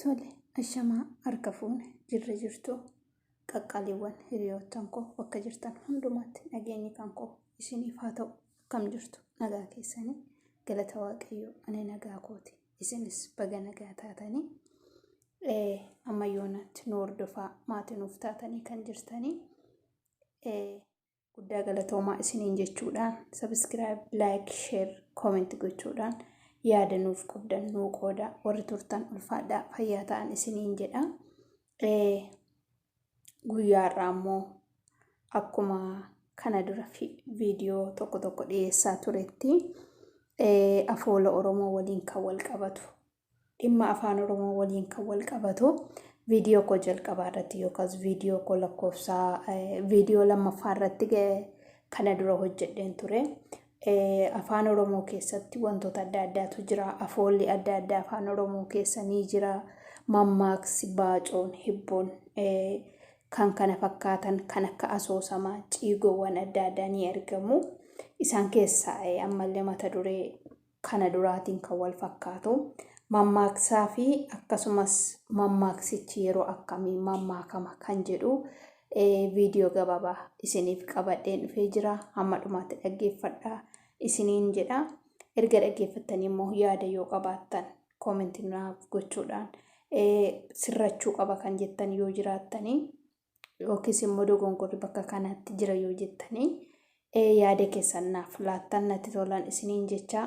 Tole, ashamaa harka fuune jirra jirtu qaqqaaliiwwan hiriyoottan koo bakka jirtan hundumaatti nageenyi kan koo isiniif haa ta'u akkam jirtu nagaa keessanii galata waaqayyoo ani nagaa kooti isinis baga nagaa taatanii eh, amma yoonatti nu hordofaa maatii nuuf taatanii kan jirtanii eh, guddaa galatoomaa isiniin jechuudhaan sabiskiraayib laayik sheer kooment gochuudhaan yaada nuuf qabdan nuu qooda warri turtan ulfaadhaa fayyaa ta'an isiniin jedha guyyaa irraa immoo akkuma kana dura viidiyoo tokko tokko dhiyeessaa turetti afoola oromoo waliin kan wal qabatu dhimma afaan oromoo waliin kan wal qabatu viidiyoo koo jalqabaa irratti yookaas viidiyoo koo lakkoofsaa viidiyoo lammaffaa irratti kana dura hojjedheen ture. Afaan oromoo keessatti wantoota adda addaatu jira. Afoolli adda addaa afaan oromoo keessa ni jira. Mammaaksi, baacoon, hibboon kan kana fakkaatan kan akka asoosamaa ciigoowwan adda addaa ni argamu. Isaan keessaa ammallee mata duree kana duraatiin kan wal fakkaatu mammaaksaa fi akkasumas mammaaksichi yeroo akkamii mammaakama kan jedhu viidiyoo gabaabaa isiniif qabadheen dhufee jira hamma dhumaatti dhaggeeffadha isiniin jedha erga dhaggeeffattanii immoo yaada yoo qabaattan koomentii naaf gochuudhaan sirrachuu qaba kan jettan yoo jiraattanii yookiis immoo dogongorri bakka kanaatti jira yoo jettanii yaada keessan naaf laattan natti tolan isiniin jechaa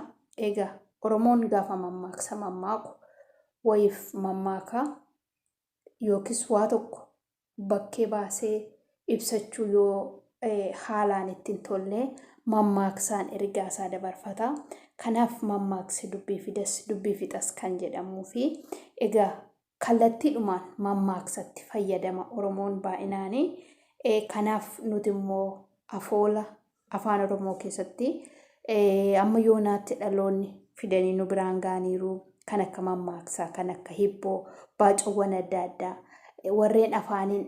egaa Oromoon gaafa mammaaksa mammaaku wayiif mammaakaa yookiis waa tokko bakkee baasee ibsachuu yoo haalaan ittiin tollee mammaaksaan ergaa isaa dabarfata. Kanaaf mammaaksi dubbii fidas dubbii fixas kan jedhamuu fi egaa Kallattiidhumaan mammaaksatti fayyadama Oromoon baay'inaani. Kanaaf nuti immoo afoola Afaan Oromoo keessatti amma yoonaatti dhaloonni fidanii nu biraan ga'aniiru. Kan akka mammaaksaa, kan akka hibboo, baacawwan adda addaa warreen afaaniin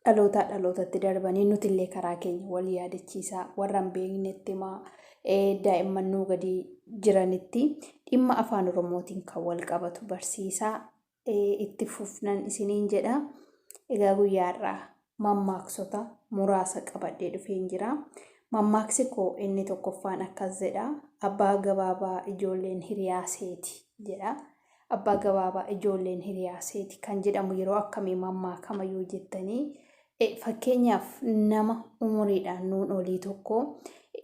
dhalootaa dhalootatti darbanii nutillee karaa keenya wal yaadachiisaa warra hin beeknetti himaa daa'imman nuu gadi jiranitti dhimma afaan oromootiin kan wal qabatu barsiisaa itti fufnan isiniin jedha egaa guyyaarraa mammaaksota muraasa qabadhee dhufeen jira mammaaksi koo inni tokkoffaan akkas jedha abbaa gabaabaa ijoolleen hiriyaa seeti jedha Abbaa gabaabaa ijoolleen hiriyaa seeti kan jedhamu yeroo akkamii mammaakama yoo jettanii fakkeenyaaf nama umuriidhaan nuun olii tokko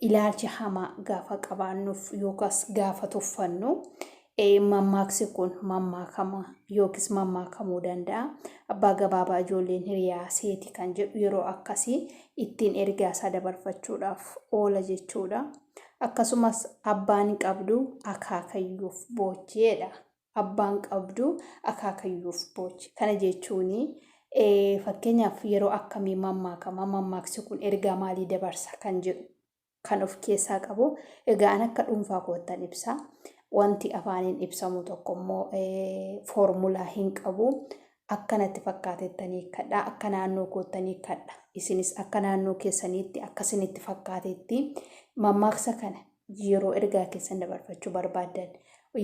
ilaalcha hamaa gaafa qabaannuuf yookaas gaafa tuffannu mammaaksi kun mammaakama yookiis mammaakamuu danda'a. Abbaa gabaabaa ijoolleen hiriyaa seeti kan jedhu yeroo akkasii ittiin ergaa isaa dabarfachuudhaaf oola jechuudha. Akkasumas abbaan qabduu akaakayyuuf boochi jedha. Abbaan qabduu akaakayyuuf boochi. Kana jechuun fakkeenyaaf yeroo akkamii mammaakama, mammaaksi kun ergaa maalii dabarsa kan jedhu kan of keessaa qabu. Egaa an akka dhuunfaa koottan ibsa. Wanti afaaniin ibsamu tokko immoo foormulaa hin qabu. Akka natti fakkaatettan hiikkadha, akka naannoo koottan hiikkadha. Isinis akka naannoo keessaniitti, akka isinitti fakkaatetti mammaaksa kana yeroo ergaa keessan dabarfachuu barbaaddan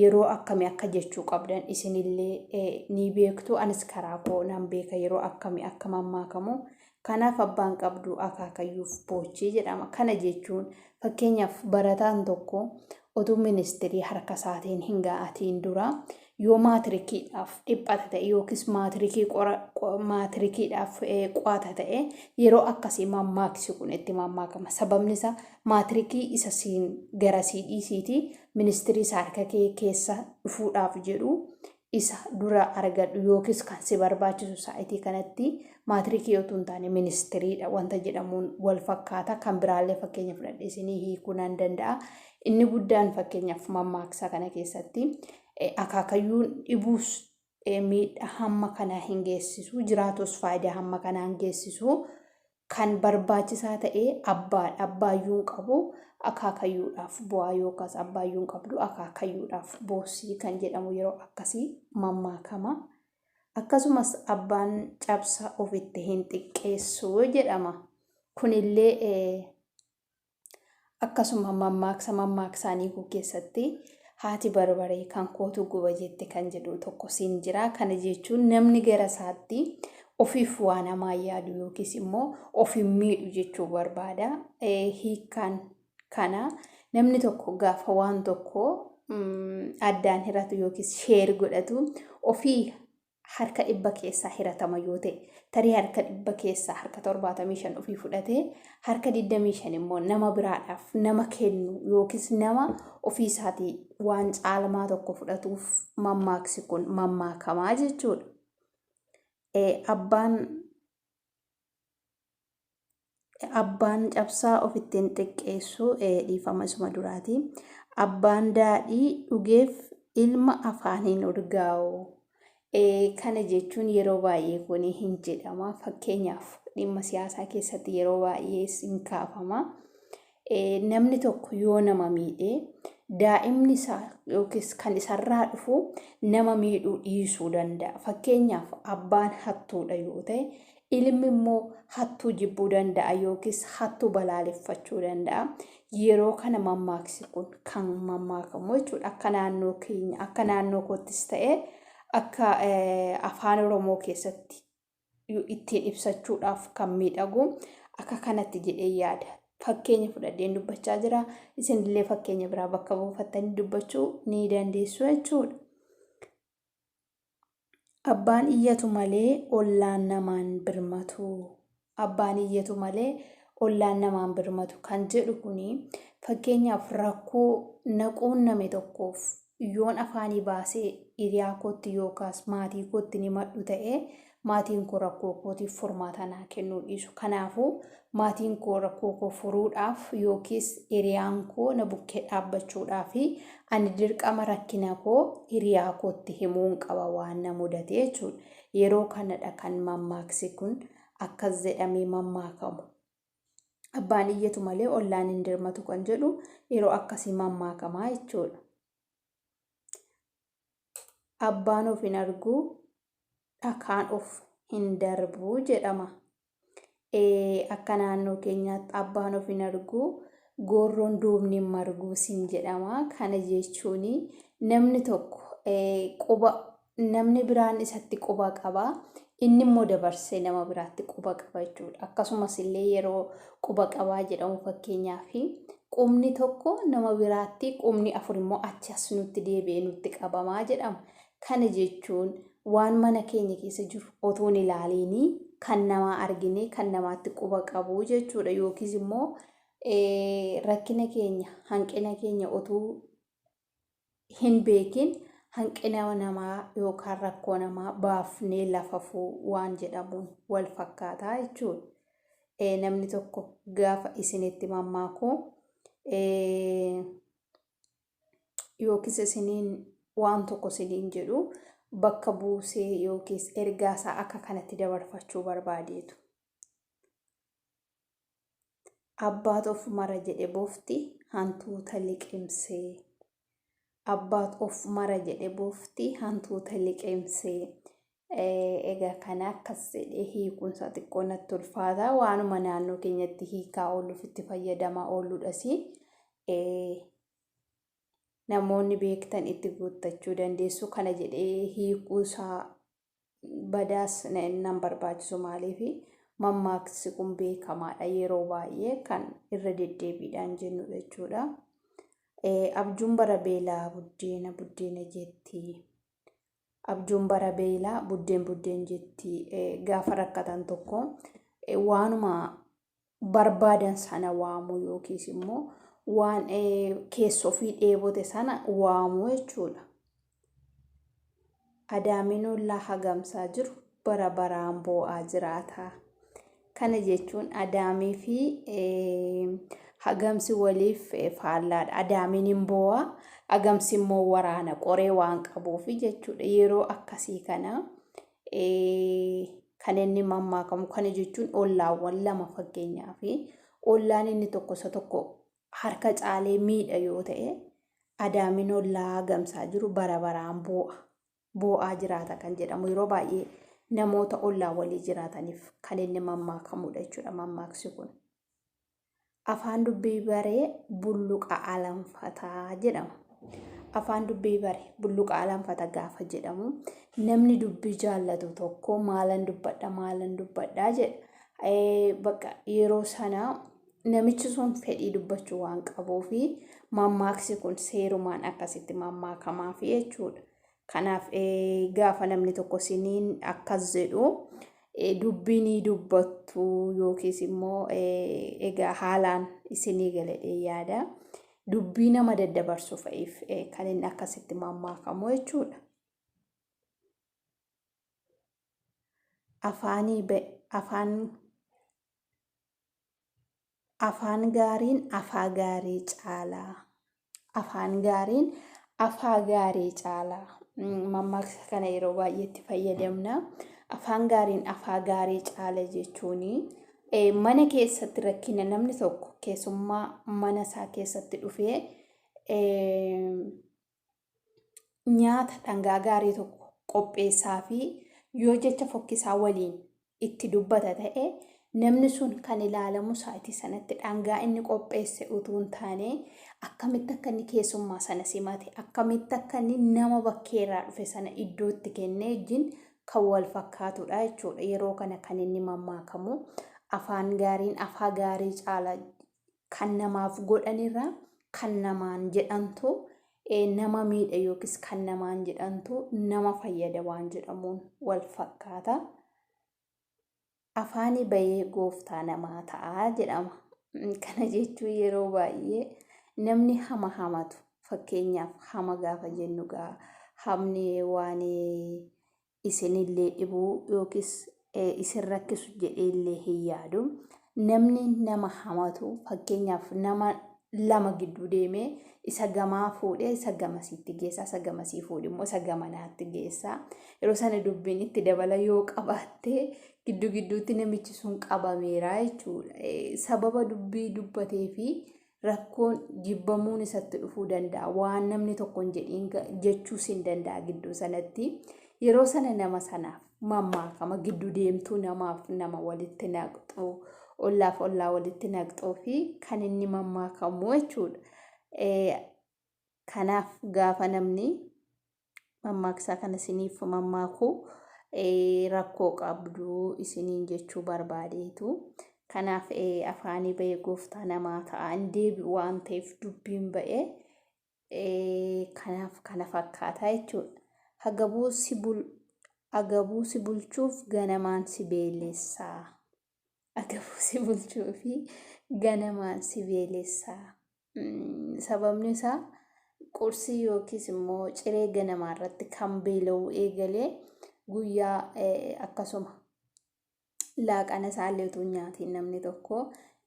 yeroo akkamii akka jechuu qabdan isinillee ni beektu. Anis karaa koo nan beeka yeroo akkamii akka mammaakamu Kanaaf abbaan qabdu akaakayyuuf boochee jedhama. Kana jechuun fakkeenyaaf barataan tokko otuu ministirii harka isaatiin hin ga'atiin dura yoo maatirikiidhaaf dhiphata ta'e yookiis maatirikii qora- qo- maatirikiidhaaf eh, qo'ata ta'e yeroo akkasii mammaaksi kun itti mammaakama. Sababni isaa maatirikii isa siin gara sii dhiisiitii ministirii isaa harka kee keessa dhufuudhaaf jedhu isa dura argadhu yookiis kan si barbaachisu saayitii kanatti maatirikii yoo tun taane ministiriidha wanta jedhamuun wal fakkaata kan biraallee fakkeenya fudhadhe isinii hiikuu nan danda'a inni guddaan fakkeenyaaf mammaaksa kana keessatti akaakayyuun dhibuus miidhaa hamma kanaa hin geessisu jiraatus faayidaa hamma kanaa hin geessisu Kan barbaachisaa ta'e abbaadha. Abbaayyuu hin qabu akaakayyuudhaaf bu'aa yookaas abbaayyuu hin qabdu akaakayyuudhaaf boossii kan jedhamu yeroo akkasii mammaakama. Akkasumas abbaan cabsa ofitti hin xiqqeessu jedhama. Kunillee Akkasuma mammaaksa mammaaksaa Niikuu keessatti haati barbaree kan kootu guba jette kan jedhu tokkos hin jira. Kana jechuun namni gara isaatti ofiif waan hamaa yaadu yookiis immoo ofiin miidhu jechuu barbaada. Hiikkaan kana namni tokko gaafa waan tokko addaan hiratu yookiis sheer godhatu ofii harka dhibba keessaa hiratama yoo ta'e tarii harka dhibba keessaa harka torbaatamii shan ofii fudhatee harka digdamii shan immoo nama biraadhaaf nama kennu yookiis nama ofii isaatii waan caalmaa tokko fudhatuuf mammaaksi kun mammaakamaa jechuudha. Abbaan Abbaan cabsaa ofitti hin xiqqeessu dhiifama isuma duraati. Abbaan daadhii dhugeef ilma afaan hin urgaa'u. Kana jechuun yeroo baay'ee kun hin jedhama. Fakkeenyaaf dhimma siyaasaa keessatti yeroo baay'ee hin kaafama. Namni tokko yoo nama miidhe daa'imni isaa yookiis kan isarraa dhufu nama miidhuu dhiisuu danda'a. Fakkeenyaaf abbaan hattuudha yoo ta'e ilmi immoo hattuu jibbuu danda'a yookiis hattuu balaaleffachuu danda'a. Yeroo kana mammaaksi kun kan mammaakamu jechuudha. Akka naannoo keenya akka naannoo koottis ta'e akka afaan Oromoo keessatti ittiin ibsachuudhaaf kan miidhagu akka kanatti jedhee yaada. Fakkeenya fudhadheen dubbachaa jira. Isinillee fakkeenya biraa bakka buufattanii dubbachuu ni dandeessu jechuudha. Abbaan iyyatu malee ollaan namaan birmatu. Abbaan iyyatu malee ollaan namaan birmatu kan jedhu kuni fakkeenyaaf rakkoo na quunname tokkoof Yoon afaanii baasee hiriyaa kootti yookaas maatii kootti hin himadhu ta'e, maatiin koo rakkoo kootiif furmaata naa kennuu dhiisu. Kanaafuu, maatiin koo rakkoo koo furuudhaaf yookiis hiriyaan koo na bukkee dhaabbachuudhaaf, ani dirqama rakkina koo hiriyaa kootti himuun qaba waan na mudate jechuudha. Yeroo kanadha kan mammaaksi kun akkas jedhamee mammaakamu. Abbaan iyyatu malee ollaan hin dirmatu kan jedhu yeroo akkasii mammaakamaa jechuudha. Abbaan of hin argu dhakaan of hin darbu jedhama. Akka naannoo keenyaatti abbaan of hin argu goorroon duubni hin margu siin jedhama. Kana jechuun namni tokko quba namni biraan isatti quba qaba. Inni immoo dabarsee nama biraatti quba qaba jechuudha. Akkasumas illee yeroo quba qabaa jedhamu fakkeenyaaf qubni tokko nama biraatti qubni afur immoo achi as nutti deebi'ee nutti qabamaa jedhama. Kana jechuun waan mana keenya keessa jiru otoo hin ilaaliinii kan namaa arginee kan namaatti quba qabuu jechuudha. Yookiis immoo rakkina keenya hanqina keenya otuu hin beekin hanqina namaa yookaan rakkoo namaa baafnee lafafuu waan jedhamuun wal fakkaataa jechuudha. Eh, namni tokko gaafa isinitti mammaaku eh, yookiis isiniin waan tokko isiniin jedhu bakka buusee yookiis ergaasaa akka kanatti dabarfachuu barbaadeetu. Abbaat of mara jedhe bofti hantuuta liqimsee. Abbaat of mara jedhe bofti hantuuta liqimsee. Egaa kana akkas jedhee hiikunsa xiqqoo natti ulfaata waanuma naannoo keenyatti hiikaa ooluuf itti fayyadamaa ooludhas namoonni beektan itti guuttachuu dandeessu kana jedhee hiikuusaa badaas nan barbaachisu maaliifi mammaaksi kun beekamaadha yeroo baay'ee kan irra deddeebiidhaan jennudha jechuudha. Abjuun bara beelaa buddeena buddeena jetti. Abjuun bara beelaa buddeen buddeen jetti gaafa rakkatan tokko waanuma barbaadan sana waamuu yookiis immoo waan keessa ofii dheebote sana waamuu jechuudha. Adaamiin ollaa hagamsaa jiru bara baraan boo'aa jiraata. Kana jechuun adaamii fi hagamsi waliif faallaadha. Adaamiin hin boo'a, hagamsi immoo waraana qoree waan qabuuf jechuudha. Yeroo akkasii kana kan inni mammaakamu kana jechuun ollaawwan lama fakkeenyaa fi ollaan inni tokko isa tokko harka caalee miidha yoo ta'e adaamiin ollaa gamsaa jiru bara baraan boo'a boo'aa jiraata kan jedhamu yeroo baay'ee namoota ollaa walii jiraataniif kan inni mammaakamudha jechuudha mammaaksi kun. Afaan dubbii bare bulluqa alanfata jedhama. Afaan dubbii bare bulluqa alanfata gaafa jedhamu namni dubbii jaallatu tokko maalan dubbadha maalan dubbadha jedha. Eh, Bakka yeroo sana namichi sun fedhii dubbachuu waan qabuufi mammaaksi kun seerumaan akkasitti mammaakamaaf jechuudha. Kanaaf gaafa namni tokko siniin akkas jedhu dubbii ni dubbattu yookiis immoo egaa haalaan isinii galedhee yaada. Dubbii nama daddabarsu fa'iif kan inni akkasitti mammaakamu jechuudha. Afaanii afaan Afaan gaariin afaa gaarii caala. Afaan gaariin afaa gaarii caala. Mammaaksa kana yeroo baay'ee itti fayyadamna. Afaan gaariin afaa gaarii caala jechuun mana keessatti rakkina namni tokko keessummaa mana isaa keessatti dhufee nyaata dhangaa gaarii tokko qopheessaafii yoo jecha fokkisaa waliin itti dubbata ta'e, namni sun kan ilaalamu sa'aatii sanatti dhangaa inni qopheesse utuu hin taane, akkamitti akka inni keessummaa sana simate, akkamitti akka inni nama bakkee irraa dhufe sana iddoo itti kennee wajjin kan wal fakkaatudha jechuudha. Yeroo kana kan inni mammaakamu afaan gaariin afaa gaarii caala kan namaaf godhanirra kan namaan jedhantu nama miidha yookiis kan namaan jedhantu nama fayyada waan jedhamuun wal fakkaata. Afaanii bayee gooftaa namaa ta'a jedhama. Kana jechuun yeroo baay'ee namni hama hamatu fakkeenyaaf hama gaafa jennu gaa hamni waan isinillee dhibuu yookiis isin rakkisu jedheellee hin yaadu. Namni nama hamatu fakkeenyaaf nama lama gidduu deemee isa gamaa fuudhee isa gamasiitti geessaa isa gamasii fuudhe immoo isa gamanaatti geessaa yeroo sana dubbiin itti dabala yoo qabaatte gidduu gidduutti namichi sun qabameera jechuudha. Sababa dubbii dubbatee fi rakkoon jibbamuun isatti dhufuu danda'a waan namni tokko hin jedhiin ga- jechuus hin danda'a gidduu sanatti yeroo sana nama sanaaf mammaakama gidduu deemtuu namaaf nama walitti naqxu ollaaf ollaa walitti naqxuu fi kan inni mammaakamu jechuudha. Eh, Kanaaf gaafa namni mammaaksaa kana isiniif mammaaku rakkoo qabdu isiniin jechuu barbaadeetu. Kanaaf afaanii ba'ee gooftaa namaa ta'a hin deebi'u waan ta'eef dubbiin ba'ee kanaaf kana fakkaataa jechuudha. Agabuu si bul agabuu si bulchuuf ganamaan si beelessaa. agabuu si bulchuu fi ganamaan si beelessa. Sababni isaa qursii yookiis immoo ciree ganamaa irratti kan beela'uu eegalee guyyaa akkasuma laaqana isaallee utuu nyaatiin namni tokko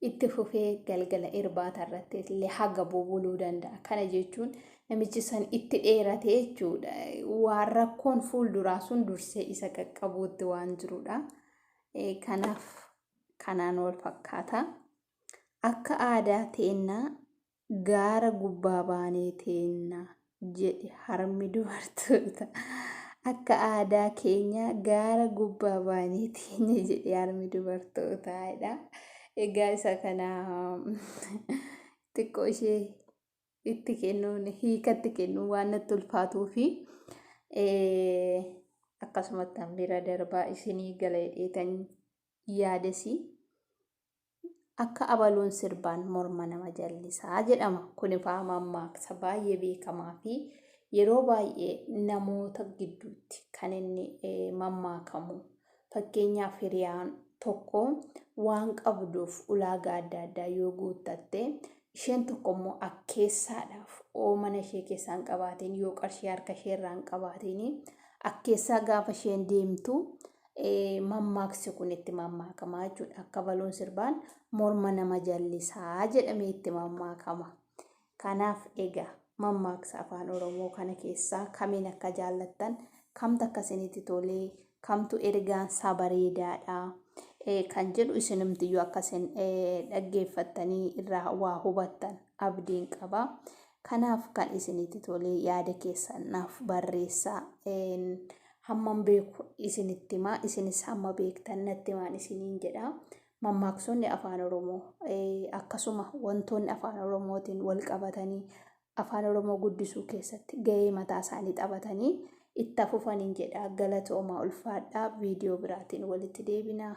itti fufee galgala irbaata irratti illee hagabuu buluu danda'a. Kana jechuun namichi san itti dheerate jechuudha. Waan rakkoon fuulduraa sun dursee isa qaqqabuutti waan jirudha. Eh, Kanaaf kanaan wal fakkaata. Akka aadaa teennaa gaara gubbaa baanee teenna jedhi harmi dubartoota. Akka aadaa keenya gaara gubbaa baanee teenya jedhi harmi dubartootaa jedha. Egaa isa kana xiqqoo ishee itti kennuun hiika itti kennuun waan natti ulfaatuu fi akkasumatti an bira darbaa isinii galeedheetan yaadesi akka abaluun sirbaan morma nama jallisaa jedhama kun ifaa mammaaksa baay'ee beekamaa fi yeroo baay'ee namoota gidduutti kan inni mammaakamu Fakkeenyaaf hiriyaan tokko waan qabduuf ulaagaa adda addaa yoo guuttatte, isheen tokko immoo akkeessaadhaaf oo mana ishee keessaa hin qabaatiin, yoo qarshii harka ishee irraa hin qabaatiin, akkeessaa gaafa isheen deemtu mammaaksi kun itti mammaakama jechuudha. Akka baluun sirbaan morma nama jallisaa jedhamee itti mammaakama. Kanaaf egaa mammaaksa Afaan Oromoo kana keessaa kamiin akka jaallattan, kamtu akka isinitti tole, kamtu ergaansaa bareedaadha kan jedhu isinumtiyyuu akka isin dhaggeeffattanii irraa waa hubattan abdiin qaba. Kanaaf kan isinitti tole yaada keessan naaf barreessaa. Hamman beeku isinitti himaa, isinis hamma beektan natti himaa isiniin jedha. Mammaaksonni Afaan Oromoo akkasuma wantoonni Afaan Oromootiin walqabatanii Afaan Oromoo guddisuu keessatti gahee mataa isaanii taphatanii itti fufaniin jedha. Galatoomaa ulfaadhaa viidiyoo biraatiin walitti deebinaa.